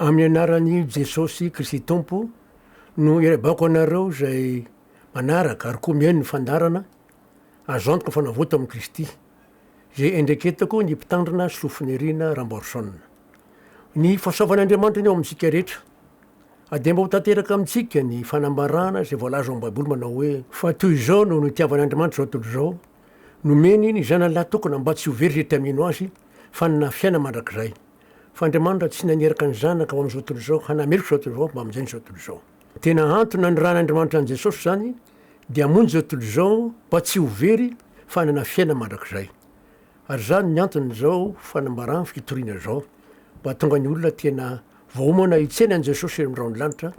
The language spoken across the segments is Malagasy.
Amin'ny anaran'i Jesosy Kristy Tompo no irebaoko anareo izay manaraka ary koa mihaino ny fandaharana, azo antoka fa navoto amin'i Kristy, izay endreketako ny Mpitandrina Sofinirina Ramboarison. Ny fahasoavan'Andriamanitra ny ao amintsika rehetra. Adihamba ho tanteraka amintsika ny fanambarana izay voalaza ao amin'ny Baiboly manao hoe. Fa toy izao no nitiavan'Andriamanitra izao tontolo izao, nomeny ny Zanany lahy tokana mba tsy ho very izay tia mino Azy, fa hanana fiainana mandrakizay. fa Andriamanitra tsy naneraka ny Zanaka ho amin'izao tontolo izao hanameloka izao tontolo izao mba hamonjena izao tontolo izao. Tena antony nanirahan'Andriamanitra an'i Jesosy izany dia hamonjy izao tontolo izao mba tsy ho very fa hanana fiainana mandrakizay. Ary izany ny anton'izao fanambarana fitoriana izao mba hahatonga ny olona tena voaomana hitsena an'i Jesosy eny amin'ny rahon'ny lanitra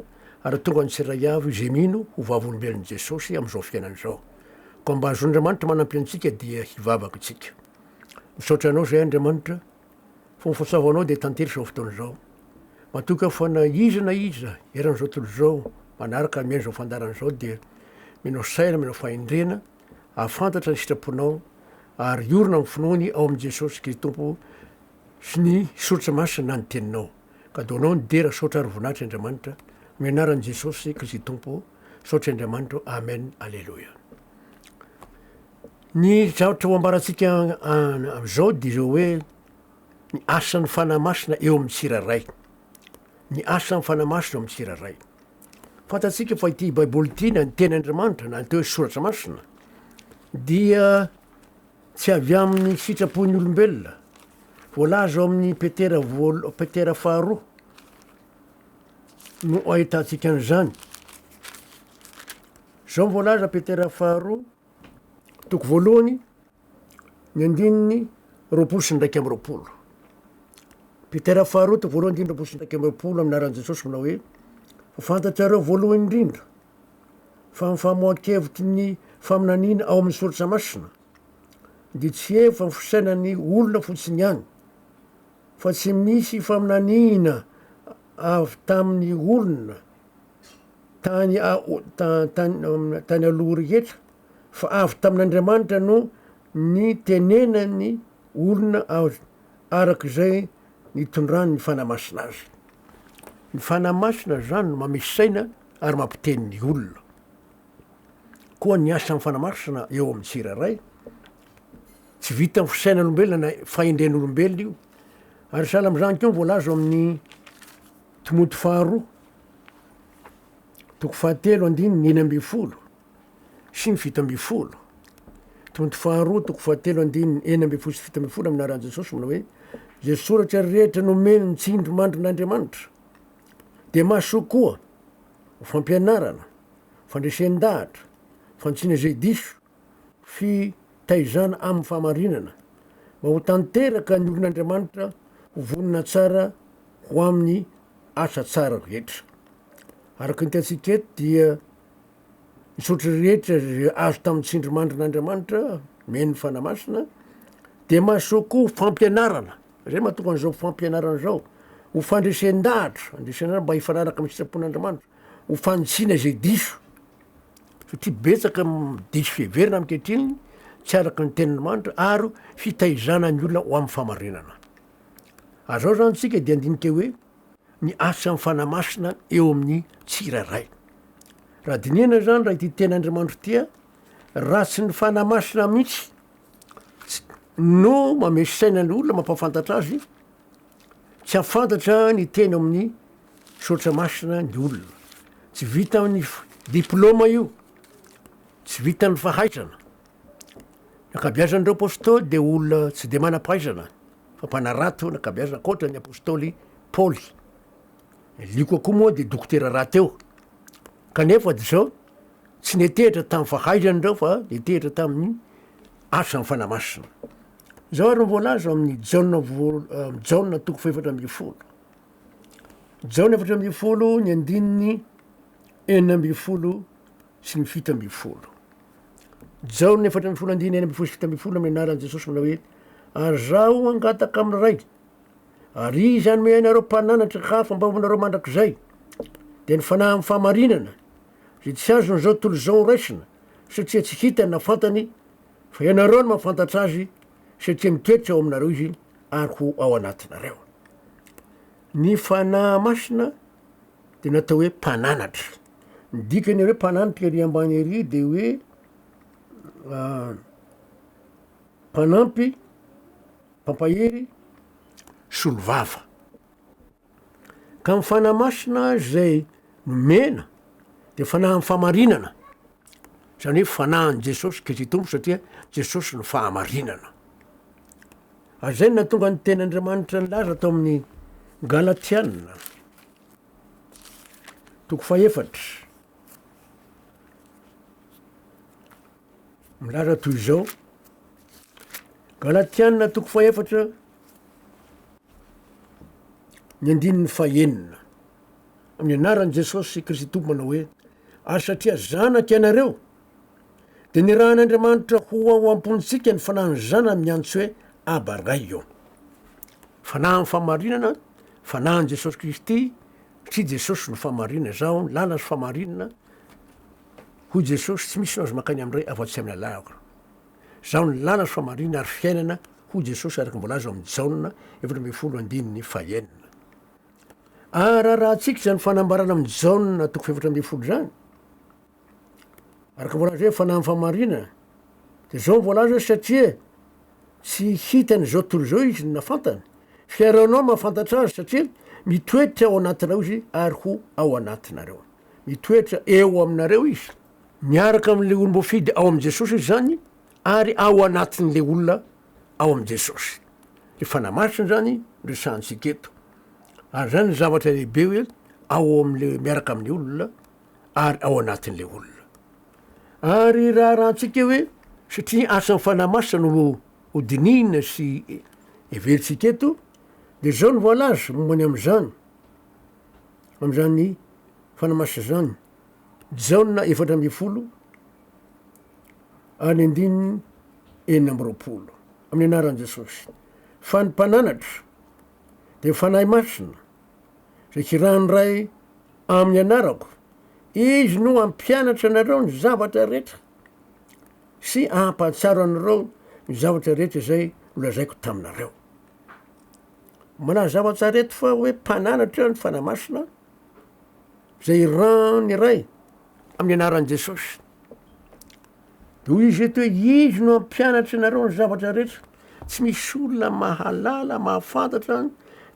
ary hahatonga ny tsirairay avy izay mino ho vavolombelon'i Jesosy amin'izao fiainana izao. Koa mba hahazoan'Andriamanitra manampe antsika dia hivavaka isika. Misaotra Anao izay Andriamanitra. Fa ho fantsavo anao dia tantery izao fotoana izao. Matoky aho fa na iza na iza eran'izao tontolo izao manaraka mihaino izao fandaharana izao dia menao saina, menao fahendrena, ahafantatra ny sitraponao ary hiorina amin'ny finoany ao amin'i Jesosy Kristy Tompo sy ny Soratra Masina na ny Teninao. Ka do anao ny dera, saotra ary voninahitra Andriamanitra. Amin'ny anaran'i Jesosy Kristy Tompo, saotra Andriamanitra. Amen. Aleloia. Ny zavatra ho ambarantsika amin'izao dia izao hoe ny asan'ny Fanahy Masina eo amin'ny tsirairay. Ny asan'ny Fanahy Masina eo amin'ny tsirairay. Fantatsika fa ity Baiboly ity na ny teny Andriamanitra na ny atao hoe soratra masina dia tsy avy amin'ny sitrapon'ny olombelona. Voalaza ao amin'ny Petera voalo- Petera faharoa no ahitantsika an'izany. Izao ny voalaza Petera faharoa Toko voalohany, ny andininy roapolo sy ny iraika amby roapolo. Petera faharoa toko voalohany andininy roapolo sy ny iraika amby roapolo amin'ny anaran'i Jesosy manao hoe fa fantatrareo voalohany indrindra fa amin'ny famoahan-kevitry ny faminaniana ao amin'ny soratra masina dia tsy hevo fa ny fisainan'ny olona fotsiny ihany fa tsy misy faminaniana avy tamin'ny olona tany tany aloha rehetra fa avy tamin'Andriamanitra no nitenenan'ny olona azy araka izay nitondrany ny Fanahy Masina azy. Ny Fanahy Masina izany no mamehy saina ary mampiteny ny olona. Koa ny asan'ny Fanahy Masina eo amin'ny tsirairay tsy vitan'ny fisainan'olombelona na fahendren'olombelona io. Ary sahala amin'izany koa ny voalaza ao amin'ny Timoty faharoa, toko fahatelo andininy enina ambin'ny folo sy ny fito ambin'ny folo. Timoty faharoa, toko fahatelo andininy enina ambin'ny folo sy fito ambin'ny folo amin'ny anaran'i Jesosy manao hoe, Izay soratra rehetra nomeny ny tsindrimandrin'Andriamanitra dia mahasoa koa ho fampianarana, fandresen-dahatra, fantsina izay diso, fitaizana amin'ny fahamarinana, mba ho tanteraka ny olon'Andriamanitra ho vonona tsara ho amin'ny asa tsara rehetra. Araka ny hitantsika eto dia misaotra rehetra izay azo tamin'ny tsindrimandrin'Andriamanitra, men'ny Fanahy Masina, dia mahasoa koa fampianarana, izay mahatonga an'izao fampianarana izao, ho fandresen-dahatra, fandresen-dahatra mba hifanaraka amin'ny sitrapon'Andriamanitra, ho fanitsiana izay diso. satria betsaka ny diso fiheverana ankehitriny tsy araka ny tenin'Andriamanitra ary fitaizana ny olona ho amin'ny fahamarinana. Ary izao izany tsika dia andinika hoe ny asa amin'ny fanahy masina eo amin'ny tsirairay. Raha dinihana izany raha ity tenin'Andriamanitra ity raha tsy ny fanahy masina mihitsy no mamesaina ny olona mampafantatra azy Tsy hahafantatra ny teny amin'ny soratra masina ny olona. Tsy vitan'ny diplaoma io, tsy vitan'ny fahaizana. Ny ankabeazan'ireo apostoly dia olona tsy dia manam-pahaizana fa mpanarato ny ankabeazana ankoatra ny apostoly Paoly. Ny Lioka koa moa dia dokotera rahateo. Kanefa dia izao tsy netehitra tamin'ny fahaizany ireo fa netehitra tamin'ny asan'ny fanahy masina. Izao ary no voalaza ao amin'ny Jaona voal- eh, amin'ny Jaona toko fahefatra ambin'ny folo. Jaona efatra ambin'ny folo ny andininy enina ambin'ny folo sy ny fito ambin'ny folo. Jaona efatra ambin'ny folo andininy enina ambin'ny folo sy fito ambin'ny folo amin'ny anaran'i Jesosy manao hoe ary zaho hangataka amin'ny Ray ary izy hanome anareo mpananatra hafa mba hoanareo mandrakizay dia ny fanahy amin'ny fahamarinana izay tsy azon'izao tontolo izao horaisina satria tsy hitany na fantany Fa ianareo no mahafantatra azy satria miketrika ao aminareo izy ary ho ao anatinareo. Ny Fanahy Masina dia natao hoe mpananatra. Ny dikany hoe mpananatra ery ambany ery dia hoe ah, mpanampy, mpampahery, solovava. Ka ny Fanahy Masina izay nomena dia Fanahin'ny fahamarinana, izany hoe Fanahin'i Jesosy Kristy Tompo satria Jesosy no fahamarinana. Ary izay no nahatonga ny teny Andriamanitra nilaza tao amin'ny Galatiana, toko fahefatra, milaza toy izao, Galatiana toko fahefatra, Ny andininy fahenina. Amin'ny anaran'i Jesosy Kristy Tompo manao hoe, Ary satria zanak' ianareo, dia nirahan'Andriamanitra ho ao am-pontsika ny Fanahin'ny Zanany miantso hoe, Aba Ray ô. Fanahy ny fahamarinana, Fanahin'i Jesosy Kristy, satria Jesosy no fahamarinana, Izaho ny lalana sy fahamarinana, hoy Jesosy, tsy misy no azo mankany amin'ny Ray afa-tsy amin'ny anako. Izaho ny lalana sy fahamarinana ary fiainana hoy Jesosy araka ny voalaza ao amin'ny Jaona efatra ambin'ny folo andininy fahenina. Aharaharahantsika izany fanambarana amin'ny Jaona toko fahefatra ambin'ny folo izany. Araka ny voalaza hoe fanahy amin'ny fahamarinana dia izao ny voalaza hoe satria tsy hitany izao tontolo izao izy no nafantany. Fiarahanao ny mahafantatra azy satria mitoetra ao anatinao izy ary ho ao anatinareo. Mitoetra eo aminareo izy. Miaraka amin'ilay olom-boafidy ao amin'i Jesosy izy izany ary ao anatin'ilay olona ao amin'i Jesosy. Ny Fanahy Masina izany no resahantsika eto. Ary izany no zavatra lehibe hoe ao amin'ilay miaraka amin'ny olona ary ao anatin'ilay olona. Ary raharahantsika hoe satria asan'ny Fanahy Masina no hodinihina sy heverintsika eto, dia izao no voalaza momba ny amin'izany, amin'izany Fanahy Masina izany. Jaona efatra ambin'ny folo ary ny andininy enina amby roapolo amin'ny anaran'i Jesosy. Fa ny mpananatra dia fanahy masina izay kirahan'ny Ray amin'ny anarako. Izy no hampianatra anareo ny zavatra rehetra sy hampahatsiaro anareo ny zavatra rehetra izay nolazaiko taminareo. Manazava tsara eto fa hoe mpananatra ny fanahy masina izay iran ny Ray amin'ny anaran'i Jesosy. Dia hoy izy eto hoe izy no hampianatra anareo ny zavatra rehetra. Tsy misy olona mahalala, mahafantatra ny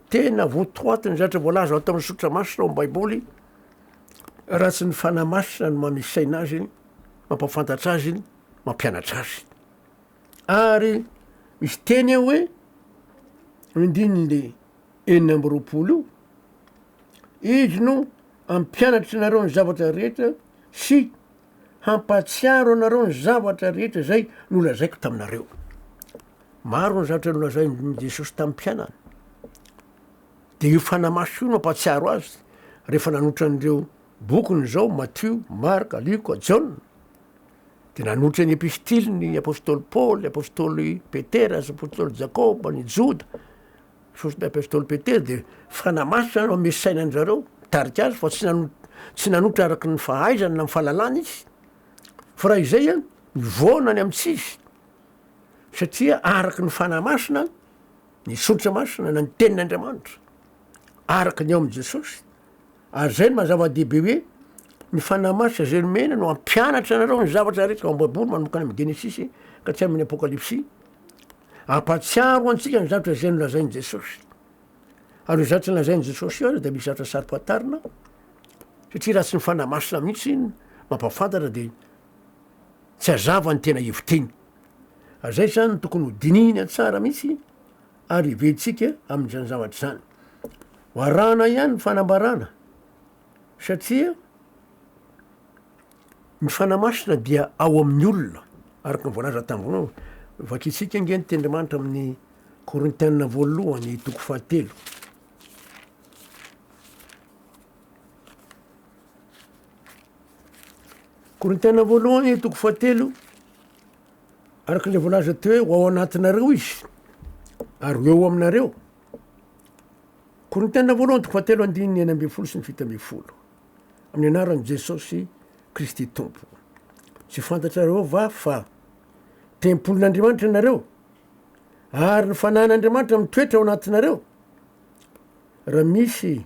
tena votoatin'ny zavatra voalaza ato amin'ny sotra masina ao amin'ny Baiboly raha tsy ny fanahy masina no manome saina azy iny, mampafantatra azy iny, mampianatra azy. Ary misy teny eo hoe ny andininy enina amby roapolo io Izy no hampianatry anareo ny zavatra rehetra sy hampahatsiaro anareo ny zavatra rehetra izay nolazaiko taminareo. Maro ny zavatra nolazain'i Jesosy tamin'ny mpianany. Dia io fanahy maso io no ampahatsiaro azy rehefa nanotra an'ireo bokiny izao, Matio, Marka, Lioka, Jaona. Dia nanotra ny epistiliny, ny apostoly Paoly, apostoly Petera, apostoly Jakoba, ny Joda, Soron'ny apostoly Petera dia fanamaso izany eo amin'ny sainan'ny zareo mitarika azy fa tsy nano- tsy nanotra araka ny fahaizany na ny fahalalany izy fa raha izay a mivoana any amintsy izy satria araka ny fanahy masina ny soritra masina na ny tenin'Andriamanitra araka ny ao amin'i Jesosy ary zay no maha zava-dehibe hoe ny fanahy masina izay nomena no hampianatra anareo ny zavatra rehetra ao am-baiboly manomboka any amin'ny genesisy ka tsy amin'ny apokalypsy Ampahatsiaro antsika ny zavatra izay nolazain'i Jesosy. Ary io zavatra nolazain'i Jesosy io aza dia misy zavatra saro-pantarina, satria raha tsy ny Fanahy Masina mihitsy no mampahafantatra dia tsy hazava ny tena heviteny. Ary izay izany tokony ho dinihina tsara mihitsy ary heveritsika amin'izany zavatra izany. Ho arahana ihany ny fanambarana, satria Ny Fanahy Masina dia ao amin'ny olona, araka ny voalaza tamin'ny voalohany. Vakintsika ange ny tenin'Andriamanitra amin'ny Korintiana voalohany toko fahatelo. Korintiana voalohany toko fahatelo, araka ilay voalaza teo hoe ho ao anatinareo izy ary ho eo aminareo. Korintiana voalohany toko fahatelo andininy enina ambin'ny folo sy ny fito ambin'ny folo. Amin'ny anaran'i Jesosy Kristy Tompo. Tsy fantatrareo va fa tempolin'Andriamanitra ianareo ary ny fanahin'Andriamanitra mitoetra ao anatinareo? Raha misy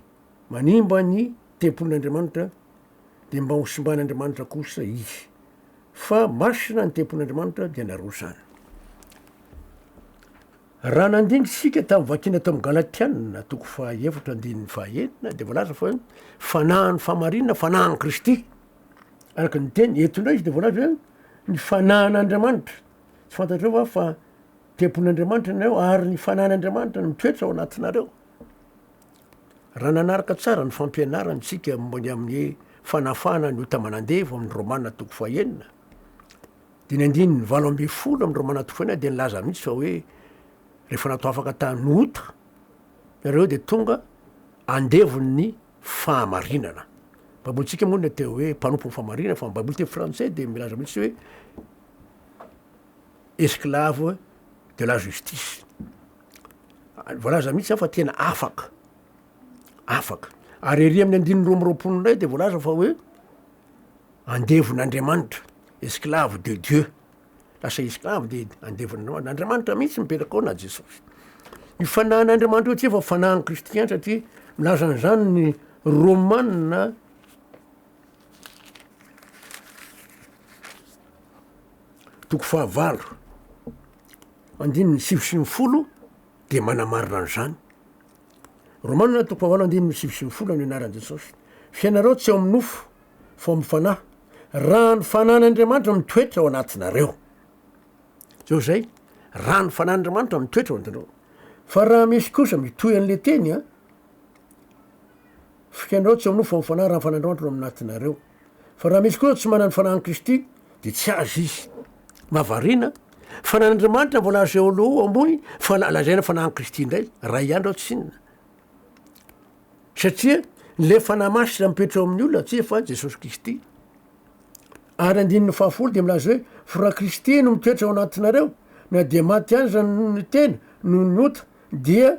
manimba ny tempolin'Andriamanitra dia mba hosimban'Andriamanitra kosa izy, fa masina ny tempolin'Andriamanitra dia narosany. Raha nandinga isika tamin'ny vakiana tao amin'ny Galatiana toko fahaefatra andininy fahaenina dia voalaza fa hoe fanahy ny fahamarinana, fanahin'i Kristy. Araka ny teny, eto indray izy dia voalaza hoe ny fanahin'Andriamanitra. Tsy fantatrao va fa tempolin'Andriamanitra ianareo ary ny fanahin'Andriamanitra no mitoetra ao anatinareo? Raha nanaraka tsara ny fampianarana isika momba ny amin'ny fanafahana ny ota aman'andevo amin'ny Romana toko fahaenina, Dimy andininy valo ambin'ny folo amin'ireo manatofoana ahy dia nilaza mihitsy fa hoe rehefa natao afaka tany ota ianareo dia tonga andevon'ny fahamarinana. Ny Baibolintsika moa no teo hoe mpanompon'ny fahamarinana fa ny Baiboly teny frantsay dia milaza mihitsy hoe esclave de la justice. Voalaza mihitsy fa tena afaka. afaka. Ary ery amin'ny andininy roa amby roapolo indray dia voalaza fa hoe andevon'Andriamanitra, esclave de Dieu, lasa esclave dia andevon'Andriamanitra, na Andriamanitra mihitsy mipetraka ao na Jesosy. Ny fanahin'Andriamanitra eo tsy efa fanahin'ny kristiana satria milaza an'izany ny Romanina toko fahavalo andininy sivy sy ny folo dia manamarina an'izany. Romana toko fahavalo andininy sivy sy folo no anaran'i Jesosy. Fiainareo tsy ao amin'ny nofo, fa ao amin'ny Fanahy, raha ny Fanahin'Andriamanitra mitoetra ao anatinareo. Zao izay, raha ny Fanahin'Andriamanitra mitoetra ao anatinareo. Fa raha misy kosa mitohy an'ilay teny an, fiainareo tsy ao amin'ny nofo, fa ao amin'ny Fanahy, raha ny Fanahin'Andriamanitra no ao anatinareo. Fa raha misy kosa tsy manana ny fanahin'i Kristy, dia tsy azy izy. Mahavariana, fa na an'Andriamanitra mbola azo eoloa ambony fa la- lazaina fanahin'i Kristy indray, raha ihany raha tsy inona. Satria ilay Fanahy Masina mipetra ao amin'ny olona tsy efa Jesosy Kristy. Ary andininy fahafolo dia milaza hoe, Fa raha Kristy no mitoetra ao anatinareo, na dia maty aza ny tena noho ny ota, dia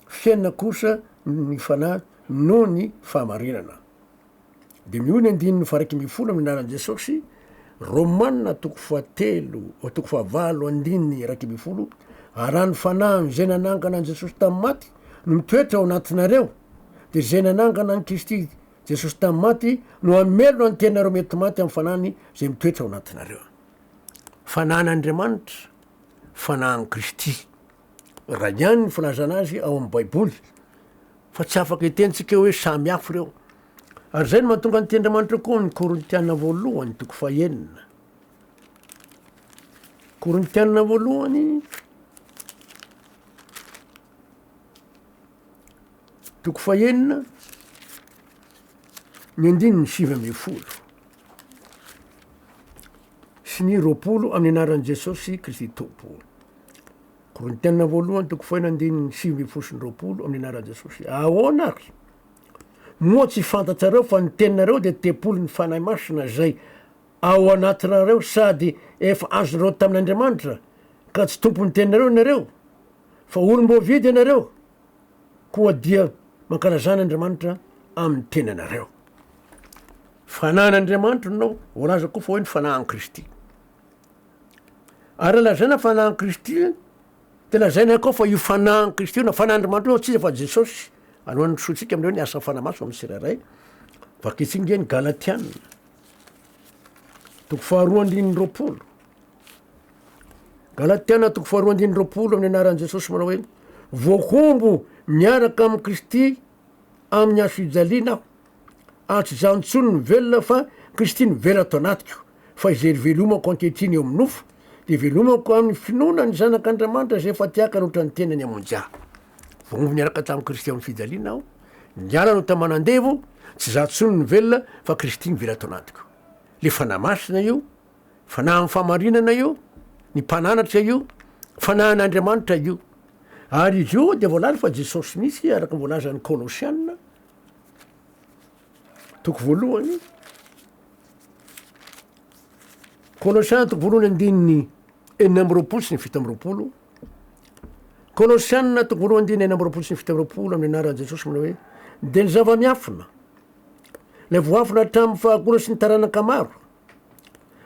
fiainana kosa ny Fanahy noho ny fahamarinana. Dia ny hoy ny andininy fahairaika ambin'ny folo amin'ny anaran'i Jesosy, Romana toko fahatelo toko fahavalo andininy iraika ambin'ny folo, ary raha ny fanahy amin'izay nanangana an'i Jesosy tamin'ny maty no mitoetra ao anatinareo, dia izay nanangana an'i Kristy Jesosy tamin'ny maty no hamelona ny tenanareo mety maty amin'ny fanahiny izay mitoetra ao anatinareo. Fanahin'Andriamanitra, fanahin'i Kristy. Raha ihany ny filazana azy ao amin'ny Baiboly, fa tsy afaka hitentsika hoe samy hafa ireo. Ary izay no mahatonga ny Tenin'Andriamanitra koa amin'ny Korintiana voalohany, toko fahenina. Korintiana voalohany, toko fahenina, ny andininy sivy ambin'ny folo sy ny roapolo amin'ny anaran'i Jesosy Kristy Tompo. Korintiana voalohany toko fahenina andininy sivy ambin'ny folo sy ny roapolo amin'ny anaran'i Jesosy. Ahoana ary? Moa tsy fantatrareo fa ny teninareo dia tempolin'ny Fanahy Masina izay ao anatinareo sady efa azonareo tamin'Andriamanitra, ka tsy tompon'ny teninareo ianareo, fa olom-boavidy ianareo, koa dia mankalazà an'Andriamanitra amin'ny tenanareo. Fanahin'Andriamanitra no voalaza koa fa hoe ny fanahin'i Kristy. Ary lazaina fanahin'i Kristy dia lazaina ihany koa fa io fanahin'i Kristy io na fanahin'Andriamanitra io tsy iza fa Jesosy. Alohan'ny hanisoantsika amin'ireo ny asan'ny fanahy masina amin'ny tsirairay, vakintsika nge ny Galatiana toko faharoa andininy roapolo. Galatiana toko faharoa andininy roapolo amin'ny anaran'i Jesosy manao hoe voahombo miaraka amin'i Kristy amin'ny hasojaliana aho. Ary tsy zah ntsony no velona fa Kristy no velona ato anatiko. Fa izay ivelomako ankehitriny eo amin'ny nofo, dia ivelomako amin'ny finoana ny Zanak'Andriamanitra izay efa tiakany ohatran'ny tenany hamonjy ahy. Voaomby niaraka tamin'i Kristy amin'ny fijaliana aho, niala no taman'andevo, tsy zah ntsony no velona fa Kristy no velona ato anatiko. Le Fanahy Masina io, Fanahy amin'ny fahamarinana io, ny Mpananatra io, Fanahin'Andriamanitra io. Ary izy io dia voalaza fa Jesosy mihitsy araka ny voalazan'ny Kolosiana Toko voalohany, Kolosiana toko voalohany andininy enina amby roapolo sy ny fito amby roapolo. Kolosiana toko voalohany andininy enina amby roapolo sy ny fito amby roapolo amin'ny anaran'i Jesosy manao hoe dia ny zava-miafina, ilay voafina hatramin'ny fahagola sy ny taranaka maro.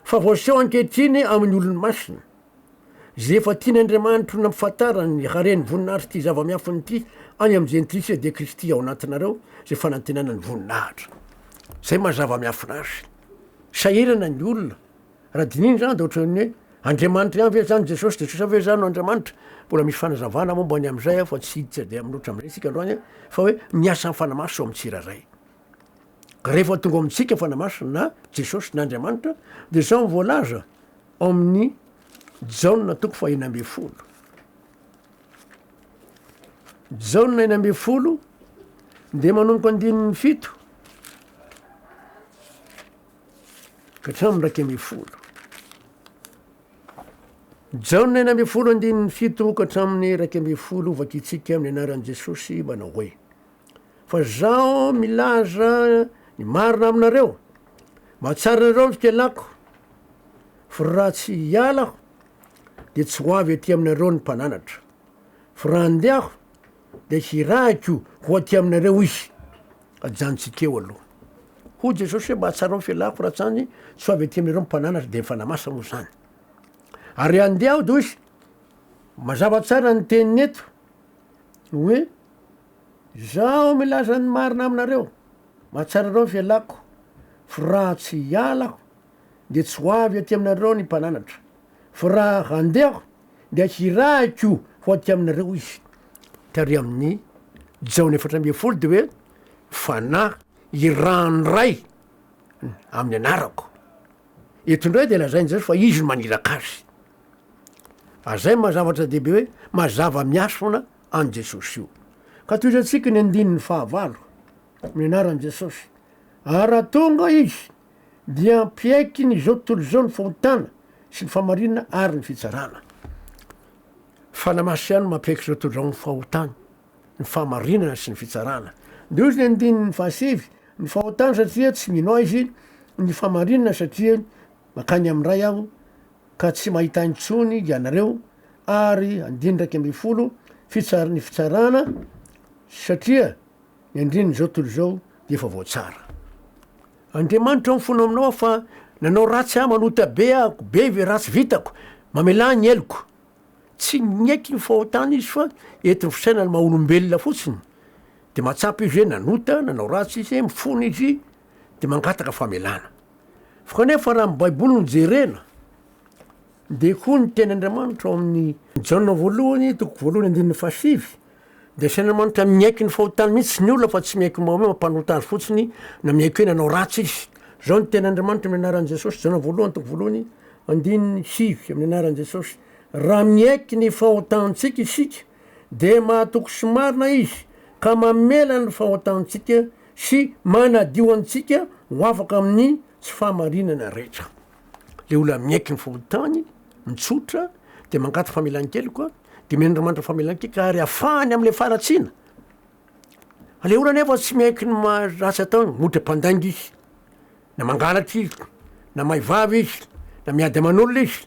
Fa voaseho ankehitriny amin'ny olony masina, izay efa tian' Andriamanitro nampifantarany ny haren'ny voninahitry ity zava-miafiny ity any amin'ny Jentilisa, dia Kristy ao anatinareo, izay fanantenana ny voninahitra. Izay maha zava-miafina azy. Sahirana ny olona, raha dinihina izany, dia ohatran'ny hoe, Andriamanitra ihany ve izany Jesosy? Jesosy ve izany no Andriamanitra? Mbola misy fanazavana momba ny amin'izay aho, fa tsy hiditra dia amin'ny loatra amin'izay isika androany, fa hoe, miasa ny Fanahy Masina ao amin'ny tsirairay. Rehefa tonga ao amintsika Fanahy Masina na Jesosy na Andriamanitra dia izao no voalaza ao amin'ny Jaona toko fahina ambin'ny folo. Jaona enina ambin'ny folo dia manomboka andininy fito ka hatramin'ny iraika ambin'ny folo. Jaona enina ambin'ny folo andininy fito ka hatramin'ny iraika ambin'ny folo vakitsika amin'ny anaran'i Jesosy manao hoe Fa Zaho milaza ny marina aminareo, mahatsiaro anareo ny fialako, fa raha tsy hiala Aho, dia tsy ho avy aty aminareo ny Mpananatra, fa raha handeha Aho, dia hirahiko ho aty aminareo Izy. Ajanontsika eo aloha. Hoy Jesosy hoe, Mahatsiaro ny fialako, fa raha tsy any, tsy ho avy aty aminareo ny Mpananatra, dia ny Fanahy Masina moa izany. Ary handeha Aho, hoy Izy. Mazava tsara ny teniny eto, hoe Izaho milaza ny marina aminareo, mahatsiaro ireo velako, fa raha tsy hiala aho, dia tsy ho avy aty aminareo ny mpananatra, fa raha handeha aho, dia hirahiko ho aty aminareo izy. Tary amin'ny Jaona efatra ambin'ny folo dia hoe, Fanahy irahan'ny Ray amin'ny anarako. Eto indray dia lazain'i Jesosy fa izy no maniraka azy. Fa zay maha zavatra dehibe hoe mazava miasona. an'i Jesosy io. Ka tohizantsika ny andininy fahavalo, ny anaran'i Jesosy. Ary raha tonga Izy, dia hampiaiky ny izao tontolo izao ny fahotana sy ny fahamarinana ary ny fitsarana. Fanahy Masina ihany no mampiaiky izao tontolo izao ny fahotana, ny fahamarinana sy ny fitsarana. Ndehozy ny andininy fahasivy, ny fahotana satria tsy mino Azy, ny fahamarinana satria makany amin'ny Ray aho, ka tsy mahita intsony ianareo ary andininy iraika ambin'ny folo fitsar ny fitsarana satria ny andininy izao tontolo izao dia efa voatsara. Andriamanitra ao ny fonao aminao aho fa nanao ratsy aho manota be ahako be ve ratsy vitako mamelà ny heloko tsy miaiky ny fahotany izy fa eto ny fisainany maha olombelona fotsiny dia mahatsapa izy hoe nanota nanao ratsy izy mifona izy dia mangataka famelana. Fa kanefa raha ny Baiboly no jerena, dia koa ny teny Andriamanitra ao amin'ny Jaona voalohany, toko voalohany andininy fahasivy, dia asain'Andriamanitra miaiky ny fahotany mihitsy ny olona fa tsy miaiky mao hoe mampanota azy fotsiny na miaiky hoe nanao ratsy izy. Izao ny teny Andriamanitra amin'ny anaran'i Jesosy, Jaona voalohany, toko voalohany, andininy sivy, amin'ny anaran'i Jesosy. Raha miaiky ny fahotantsika isika, dia mahatoky sy marina izy ka mamela ny fahotantsika Sy manadio antsika ho afaka amin'ny tsy fahamarinana rehetra. Ilay olona miaiky ny fokontany, mitsotra, dia mangaty famelan-keloka, dia mihaino Andriamanitra famelan-keloka ary afahany amin'ilay faharatsiana. Ilay olona anefa tsy miaiky ny maha ratsy ataony, ohatra mpandainga izy, na mangalatra izy, na mahay vava izy, na miady aman'olona izy.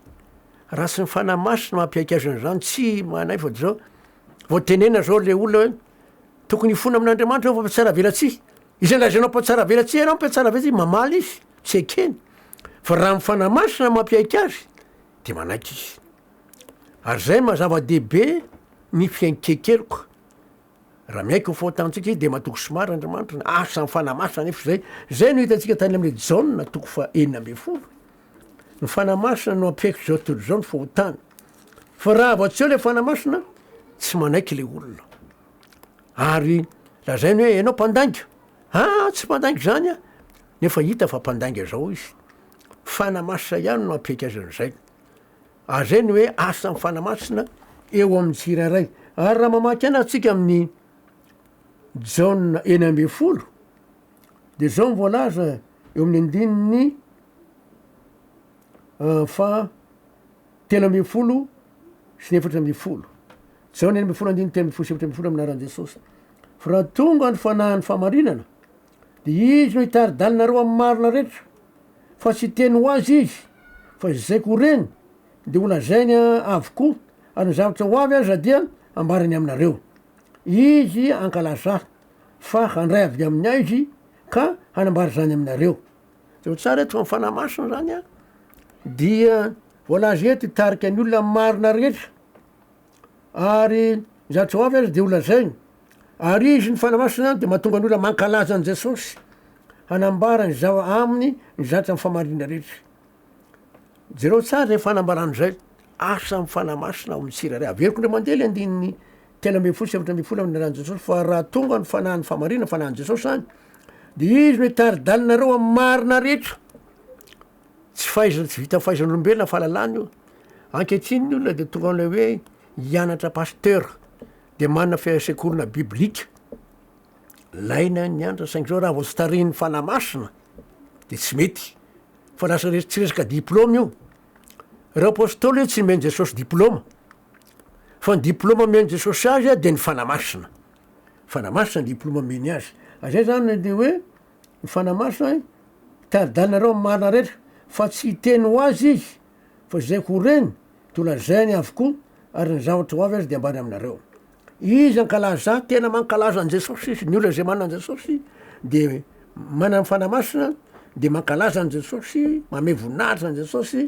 Raha tsy ny Fanahy Masina mampiaiky azy an'izany, tsy manaifa izao. Vao tenena izao ilay olona hoe. Tokony hifona amin'Andriamanitra eo fa mpiatsaravelatsihy. Izay lazainao mpiatsaravelatsihy ianao, mpiatsaravelatsihy, mamaly izy, tsy ekeny. Fa raha ny Fanahy Masina no mampiaiky azy, dia manaiky izy. Ary izay maha zava-dehibe ny fiainkekeloka. Raha miaiky ho fahotantsika izy, dia matoky sy marina Andriamanitra. Asan'ny Fanahy Masina anefa izay. Izay no hitantsika tany amin'ny Jaona, toko fahenina ambin'ny folo. Ny Fanahy Masina no ampiaiko izao tontolo izao ny fahotana. Fa raha avy atsy eo ilay Fanahy Masina, tsy manaiky ilay olona. Ary lazainy hoe ianao mpandainga. Ah, tsy mpandainga izany ah. Nefa hita fa mpandainga izao izy. Fanahy Masina ihany no ampiaika azy an'izay. Ary zay ny hoe asan'ny Fanahy Masina eo amin'ny tsirairay. Ary raha mamaky ana antsika amin'ny Jaona eny ambin'ny folo, dia izao ny voalaza eo amin'ny andininy faha telo ambin'ny folo sy ny efatra ambin'ny folo. Jaona enina ambin'ny folo andininy telo ambin'ny folo sy efatra ambin'ny folo amin'ny anaran'i Jesosy. Fa raha tonga ny fanahin'ny fahamarinana, dia izy no hitari-dalinareo amin'ny marina rehetra, fa tsy hiteny ho azy izy, fa izay koa reny dia holazainy avokoa, ary ny zavatra ho avy aza dia hambarany aminareo. Izy hankalazà, fa handray avy amin'ny aizy ka hanambara izany aminareo. de ho tsara eto fa ny fanahy masina zany a dia voalaza eto hitarika ny olona marina rehetra ary zany tsy ho avy aza de ho lazainy ary izy ny fanahy masina zany de mahatonga ny olona mankalaza an'i Jesosy hanambara ny zava- aminy ny zavatra ny fahamarinana rehetra jereo tsara zay fanambarana zay asa ny fanahy masina ao amin'ny tsirairay averiko ndray mandeha le andininy Telo ambin'ny folo sy efatra ambin'ny folo amin'ny ran'i Jesosy fa raha tonga ny fanahin'ny fahamarinana fanahin'i Jesosy any dia izy no hitari-dalinareo amin'ny marina rehetra. Tsy fahaizana tsy vita fahaizan'olombelona fahalalana io. Ankehitriny ny olona dia tonga amin'ilay hoe hianatra pasteur dia manana fisekolana biblika. Laina ny anatra saingy zao raha vao tsy tarihin'ny fanahy masina dia tsy mety fa lasa tsy resaka diplôma io. Ireo apôstôly io tsy nomen'i Jesosy diplôma Fa ny diploma omen'i Jesosy azy dia ny Fanahy Masina. Fanahy Masina ny diploma omeny azy. Ary zay zany dia hoe ny Fanahy Masina tari-dalinareo amin'ny marina rehetra fa tsy hiteny ho azy izy fa izay ho reny dia ho lazainy avokoa ary ny zavatra ho avy aza dia ambara aminareo. Izy ankalaza tena mankalaza an'i Jesosy izy, ny olona izay manana an'i Jesosy dia manana ny Fanahy Masina dia mankalaza an'i Jesosy, manome voninahitra an'i Jesosy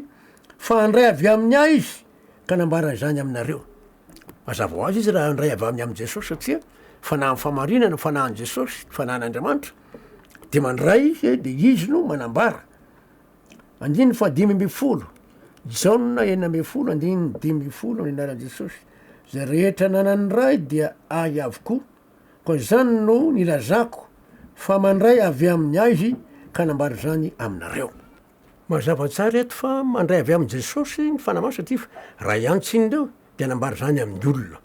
fa handray avy amin'ny Ahy izy. Ka nambara izany aminareo. Mazava ho azy izy raha handray avy amin'ny amin'i Jesosy satria fanahin'ny fahamarinana ny fanahin'i Jesosy, ny fanahin'Andriamanitra, dia mandray izy dia izy no manambara. Andininy fahadimy ambin'ny folo, Jaona enina ambin'ny folo, andininy dimy ambin'ny folo, ny anaran'i Jesosy. Izay rehetra nanan'ny Ray dia Ahy avokoa. Koa izany no nilazako fa mandray avy amin'ny Ahy Izy ka nambara izany aminareo. Mazava tsara eto fa mandray avy amin'i Jesosy ny Fanahy Masina ity fa raha i Antsy iny indreo dia nambara izany amin'ny olona.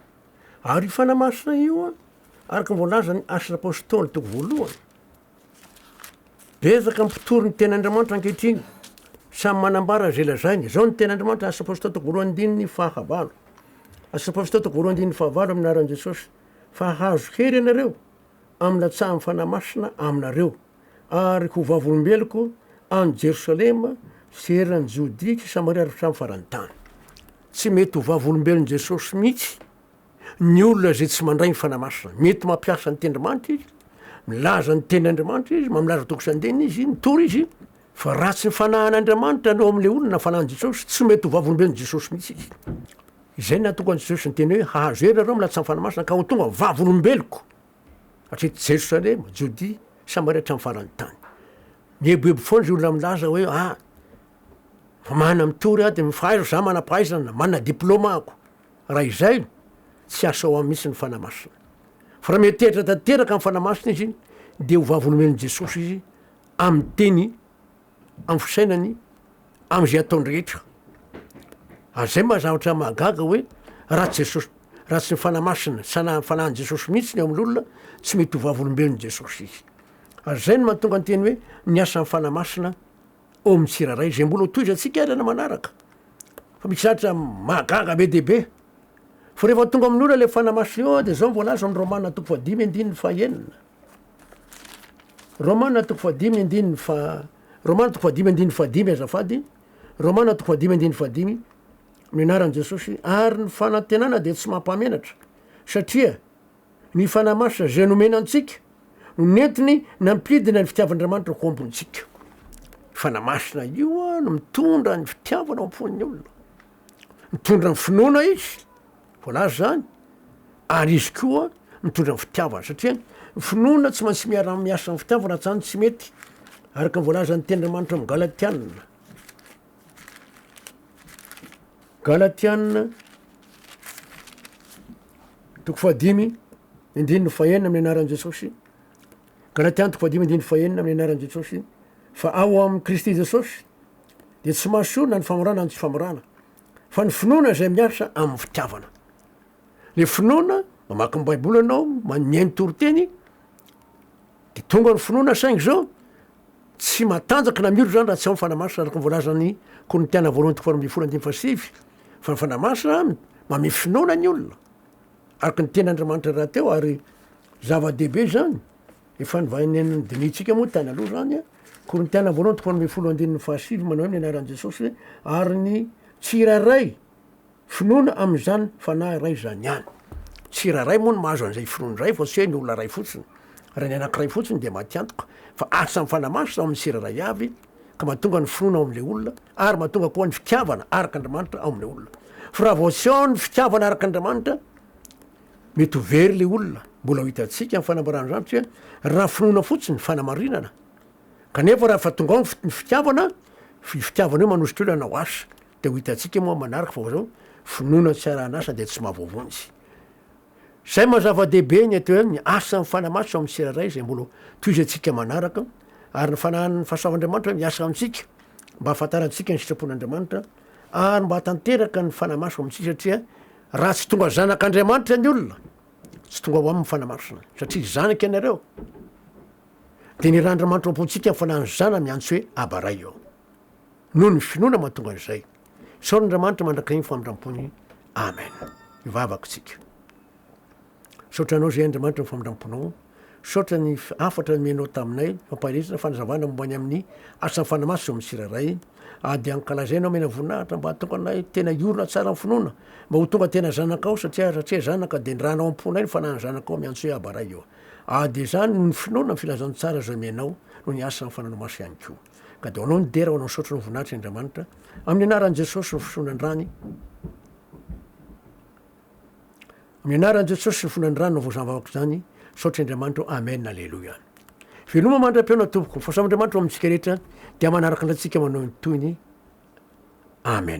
Ary io Fanahy Masina io araka ny voalazan'ny Asan'ny Apostoly toko voalohany. Betsaka ny mpitory ny Tenin'Andriamanitra ankehitriny. Samy manambara izay lazainy. Izao ny Tenin'Andriamanitra, Asan'ny Apostoly toko voalohany andininy fahavalo. Asan'ny Apostoly toko voalohany andininy fahavalo amin'ny anaran'i Jesosy. Fa hahazo hery ianareo amin'ny latsahan'ny Fanahy Masina aminareo. ary ho vavolombeloko any Jerosalema sy eran'i Jodia sy Samaria ary hatramin'ny faran'ny tany. Tsy mety ho vavolombelon'i Jesosy mihitsy ny olona izay tsy mandray ny Fanahy Masina. Mety mampiasa ny tendrimanitra izy, milaza ny teny Andriamanitra izy, mamilaza toko sy andininy izy, mitory izy, fa raha tsy ny Fanahin'Andriamanitra no ao amin'ilay olona, ny Fanahin'i Jesosy, tsy mety ho vavolombelon'i Jesosy mihitsy izy. Izay no nahatonga an'i Jesosy niteny hoe, Hahazo hery ianareo amin'ny lahatsain'ny Fanahy Masina ka ho tonga vavolombeloko. Hatreto Jerosalema, Jodia, Samaria hatramin'ny faran'ny tany. Mieboebo foana izy olona milaza hoe ah, fa manana mitory aho dia mifahaizo za manam-pahaizana, manana diplôma ako. Raha izay, tsy asao amin'ny mihitsy ny fanahy masina. Fa raha miantehitra tanteraka amin'ny fanahy masina izy, dia ho vavolombelon'i Jesosy izy amin'ny teny amin'ny fisainany amin'izay ataony rehetra. Ary izay maha-zavatra mahagaga hoe raha tsy Jesosy, raha tsy ny Fanahy Masina, Sanahan'ny Fanahin'i Jesosy mihitsy ny ao amin'olona, tsy mety ho vavolombelon'i Jesosy izy. Ary izay no mahatonga ny teny hoe ny asan'ny Fanahy Masina ao amin'ny tsirairay, izay mbola ho tohizantsika ary any manaraka. Fa misy zavatra mahagaga be dia be. Fa rehefa tonga amin'ny olona ilay Fanahy Masina eo, dia izao no voalaza amin'ny Romana toko fahadimy andininy fahenina. Romana toko fahadimy andininy fa Romana toko fahadimy andininy fahadimy azafady Romana toko fahadimy andininy fahadimy amin'ny anaran'i Jesosy ary ny fanantenana dia tsy mampamenatra satria ny fanahy masina izay nomena antsika no nentiny nampidina ny fitiavan'Andriamanitra ho am-pontsika. Fanahy masina io no mitondra ny fitiavana ao am-pon'ny olona. Mitondra ny finoana izy, voalaza izany, ary izy koa mitondra ny fitiavana, satria ny finoana tsy maintsy miara-miasa amin'ny fitiavana, raha tsy izany tsy mety, araka ny voalazan'ny Tenin'Andriamanitra amin'ny Galatiana. Galatiana toko fahadimy indininy fahenina amin'ny anaran'i Jesosy Galatiana toko fahadimy indininy fahenina amin'ny anaran'i Jesosy fa ao amin'i Kristy Jesosy dia tsy mahasorona ny famorana ny tsy famorana fa ny finoana izay miasa amin'ny fitiavana. Le finoana mamaky ny Baiboly ianao, manome ny toriteny dia tonga ny finoana saingy izao tsy matanjaka na miro izany raha tsy amin'ny fanahy masina araka ny voalazan'ny Korintiana voalohany toko faharoambin'ny folo andininy fahasivy fa ny fanahy masina mame finoana ny olona araka ny tenin'Andriamanitra rahateo ary zava-dehibe izany. Efa novahinian'i Denis tsika moa tany aloha izany a. Korintiana voalohany toko faha ambin'ny folo andininy faha sivy manao hoe ny anaran'i Jesosy hoe ary ny tsirairay finoana amin'izany Fanahy iray izany ihany. Tsirairay moa no mahazo an'izay finoana izay fa tsy hoe ny olona iray fotsiny. Raha ny anankiray fotsiny dia matiantoka fa asa ny Fanahy Masina ao amin'ny tsirairay avy ka mahatonga ny finoana ao amin'ilay olona ary mahatonga koa ny fitiavana arak'Andriamanitra ao amin'ilay olona. Fa raha vao tsy ao ny fitiavana arak'Andriamanitra Mety ho very ilay olona. Mbola ho hitantsika ny fanambarana izany satria raha finoana fotsiny, fanamarinana. Kanefa raha efa tonga ao ny fitiavana, io fitiavana io manosika olona hanao asa. Dia ho hitantsika moa manaraka fa izao finoana tsy arahan'asa dia tsy mahavonjy. Izay maha zava-dehibe ny atao hoe ny asan'ny Fanahy Masina ao amin'ny tsirairay izay mbola tohizantsika manaraka ary ny fanahin'ny fahasavan'Andriamanitra hoe miasa amintsika mba hahafantarantsika ny sitrapon'Andriamanitra ary mba hahatanteraka ny Fanahy Masina ao amintsika satria Raha tsy tonga zanak'Andriamanitra ny olona, tsy tonga ho aminy ny fanahy masina, satria zanaka ianareo. Dia nirandrimanitra ao am-pontsika ny fanahin'ny Zanany antso hoe Aba Ray eo. Noho ny finoana mahatonga an'izay. Isaoran'Andriamanitra mandrakizay ny famindram-pony. Amen. Ivavaka isika. Misaotra anao izay Andriamanitra ny famindram-ponao. Misaotra ny hafatra nomenao taminay, fampanirina, fanazavana momba ny amin'ny asan'ny fanahy masina eo amin'ny tsirairay. Ady ankalazainao mena voninahitra mba hahatonga anay tena hiorina tsara amin'ny finoana, mba ho tonga tena zanakao satria satria zanaka dia ny rana ao am-ponay ny fanahin'ny zanakao miantso hoe Aba Ray eo. Ady izany noho ny finoana ny filazantsara izay omenao noho ny asan'ny fananao masina ihany koa. Ka dia ho anao ny dera, ho anao ny saotra, ho anao ny voninahitra Andriamanitra. Amin'ny anaran'i Jesosy ny fisoronandrany. Ny anaran'i Jesosy sy ny fonan'ny ranony no voasambo amiko izany, misaotra Andriamanitro Amen Aleloia. Veloma mandra-pihaona tompoko, mifasambo Andriamanitra ho amintsika rehetra, dia manaraka andratsika manao ny tohiny Amen.